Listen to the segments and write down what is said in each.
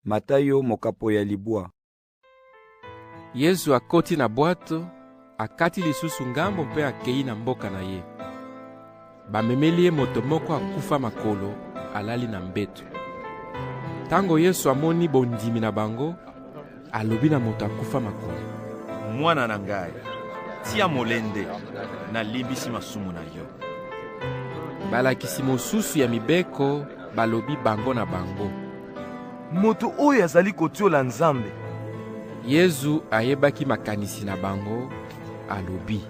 Mata yo mokapo ya libwa. Yezu akoti na bwato, akati lisusu ngambo mpe akei na mboka na ye. Bamemeli ye moto moko akufa makolo, alali na mbeto. Tango Yesu amoni bondimi na bango, Alobi na moto akufa makolo. Mwana na ngai, tia molende, nalimbisi masumu na yo. Balakisi mosusu ya mibeko balobi bango na bango. Moto oyo azali kotiola Nzambe. Yezu ayebaki makanisi na bango, alobi.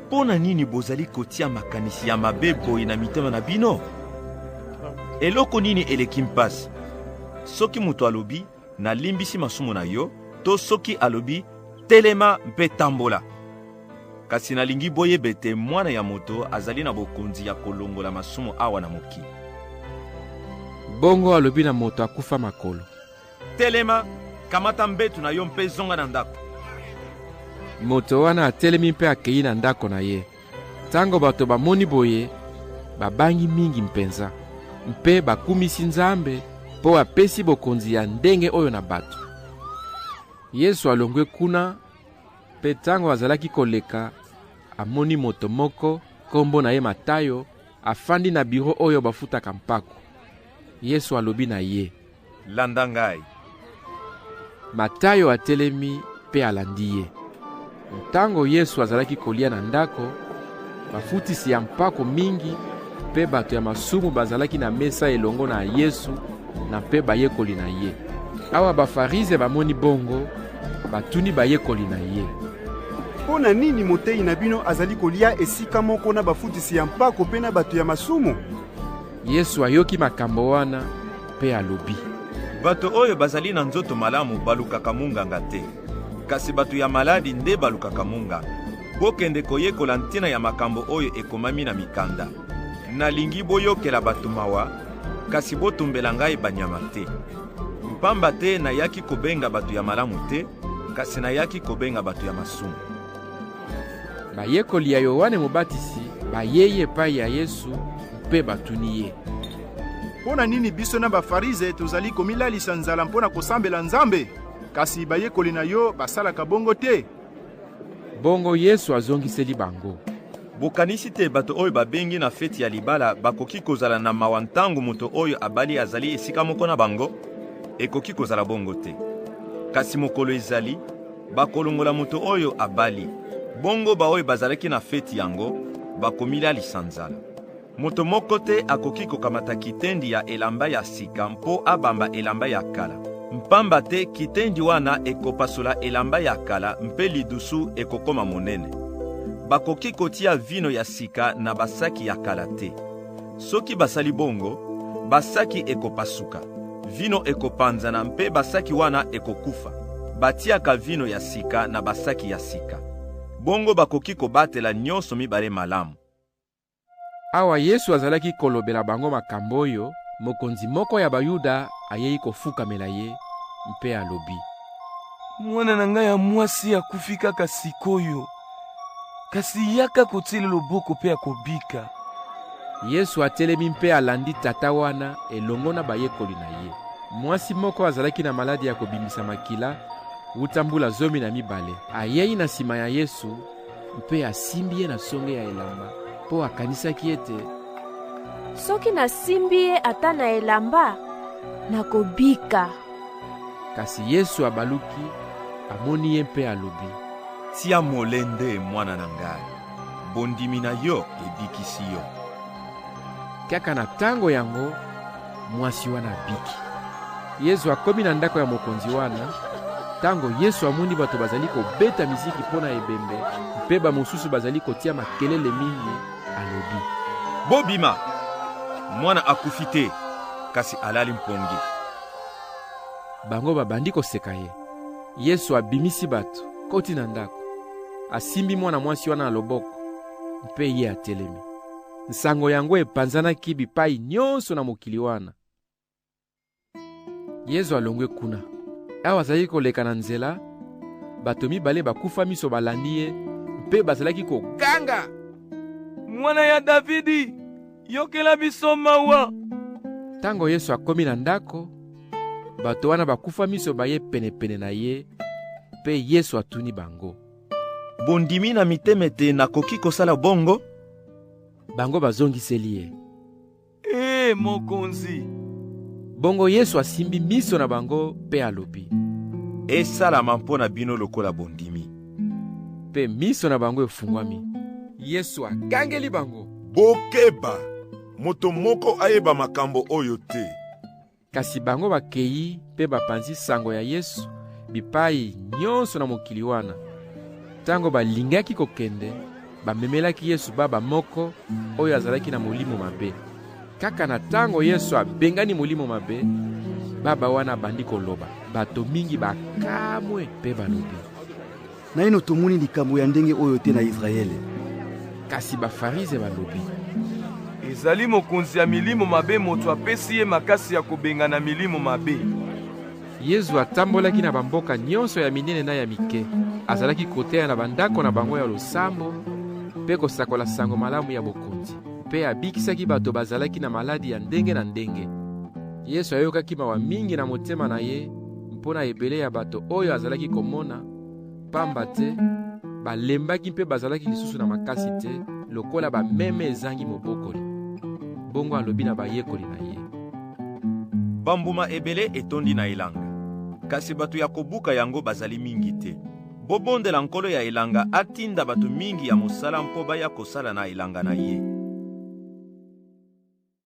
Mpo na nini bozali kotia makanisi ya mabe boye na mitema na bino? Eloko nini eleki mpasi? Soki moto alobi, nalimbisi masumu na yo, to soki alobi, telema mpe tambola. Kasi nalingi boyeba ete mwana ya moto azali na bokonzi ya kolongola masumu awa na mokili. Bongo alobi na moto akufa makolo. Telema, kamata mbetu na yo mpe zonga na ndako. Moto wana atelemi mpe akei na ndako na ye. Ntango bato bamoni boye, babangi mingi mpenza mpe bakumisi Nzambe mpo apesi bokonzi ya ndenge oyo na bato. Yesu alongwe kuna, mpe ntango azalaki koleka, amoni moto moko, nkombo na ye Matayo, afandi na biro oyo bafutaka mpako. Yesu alobi na ye, Landa ngai. Matayo atelemi mpe alandi ye. Ntango Yesu azalaki kolia na ndako, bafutisi ya mpako mingi mpe bato ya masumu bazalaki na mesa elongo na Yesu na mpe bayekoli na ye. Awa Bafarize bamoni bongo, batuni bayekoli na ye. Mpo na nini moteyi na bino azali kolia esika moko na bafutisi ya mpako mpe na bato ya masumu? Yesu ayoki makambo wana mpe alobi. Bato oyo bazali na nzoto malamu balukaka munganga te, kasi bato ya maladi nde balukaka munganga. Bokende koyekola ntina ya makambo oyo ekomami na mikanda. Nalingi boyokela bato mawa, kasi botumbela ngai banyama te. Mpamba te nayaki kobenga bato ya malamu te, kasi nayaki kobenga bato ya masumu. Bayekoli ya Yoane Mobatisi bayei epai ya Yesu mpe batuni ye. Mpo na nini biso na Bafarize tozali komilalisa nzala mpo na kosambela Nzambe, kasi bayekoli na yo basalaka bongo te? Bongo Yesu azongiseli bango. Bokanisi te bato oyo babengi na feti ya libala bakoki kozala na mawa ntango moto oyo abali azali esika moko na bango? Ekoki kozala bongo te. Kasi mokolo ezali Bakolongola moto oyo abali. Bongo baoyo bazalaki na feti yango bakomilalisa nzala. Moto moko te akoki kokamata kitendi ya elamba ya sika mpo abamba elamba ya kala, mpamba te kitendi wana ekopasola elamba ya kala mpe lidusu ekokoma monene. Bakoki kotia vino ya sika na basaki ya kala te. Soki basali bongo, basaki ekopasuka, vino ekopanzana mpe basaki wana ekokufa. Batiaka vino ya sika na basaki ya sika. Bongo bakoki kobatela nyonso mibale malamu. Awa Yesu azalaki kolobela bango makambo oyo, mokonzi moko ya Bayuda ayei kofukamela ye mpe alobi, Mwana na ngai ya mwasi akufi kaka sikoyo. kasi yaka kotiele loboko mpe akobika. Yesu atelemi mpe alandi tata wana elongo na bayekoli na ye. Mwasi moko azalaki na maladi ya kobimisa makila wuta mbula zomi na mibale ayei na nsima ya Yesu mpe asimbi ye na songe ya elamba mpo akanisaki ete soki nasimbi ye ata na elamba nakobika. Kasi Yesu abaluki, amoni ye mpe alobi, Tia molende, mwana na ngai, bondimi na yo ebikisi yo. Kaka na tango yango, mwasi wana abiki. Yesu akomi na ndako ya mokonzi wana. Tango Yesu amoni bato bazali kobeta miziki mpo na ebembe mpe bamosusu bazali kotia makelele mingi, alobi, Bobima! Mwana akufi te, kasi alali mpongi. Bango babandi koseka ye. Yesu abimisi bato, koti na ndako, asimbi mwana mwasi wana na loboko, mpe ye atelemi. Nsango yango epanzanaki bipai nyonso na mokili wana. Yesu alongwe kuna. Awa azalaki koleka na nzela, bato mibale bakufa miso balandi ye mpe bazalaki koganga, Mwana ya Davidi, Yokela biso mawa. Tango Yesu akomi na ndako, bato wana bakufa miso baye penepene na ye, mpe Yesu atuni bango. Bondimi na mitema ete nakoki kosala bongo? Bango bazongiseli ye. Ee, Mokonzi! Bongo Yesu asimbi miso na bango mpe alobi. Esalama mpo na bino lokola bondimi. Mpe miso na bango efungwami. Yesu agangeli bango. Bokeba! Moto moko ayeba makambo oyo te. Kasi bango bakei mpe bapanzi sango ya Yesu bipai nyonso na mokili wana. Ntango balingaki kokende, Bamemelaki Yesu baba moko oyo azalaki na molimo mabe. Kaka na ntango Yesu abengani molimo mabe, baba wana abandi koloba. Bato mingi bakamwe mpe balobi, naino tomoni likambo ya ndenge oyo te na Yisraele. Kasi Bafarize balobi, ezali mokonzi ya milimo mabe moto apesi ye makasi ya kobengana milimo mabe. Yezu atambolaki na bamboka nyonso ya minene na ya mike. Azalaki koteya na bandako na bango ya losambo mpe kosakola sango malamu ya bokonzi. Mpe abikisaki bato bazalaki na maladi ya ndenge na ndenge. Yesu ayokaki mawa mingi na motema na ye mpo na ebele ya bato oyo azalaki komona mpamba te balembaki mpe bazalaki lisusu na makasi te lokola bameme ezangi mobokoli bongo alobi na bayekoli na ye bambuma ebele etondi na elanga kasi bato ya kobuka yango bazali mingi te bobondela nkolo ya elanga atinda bato mingi ya mosala mpo baya kosala na elanga na ye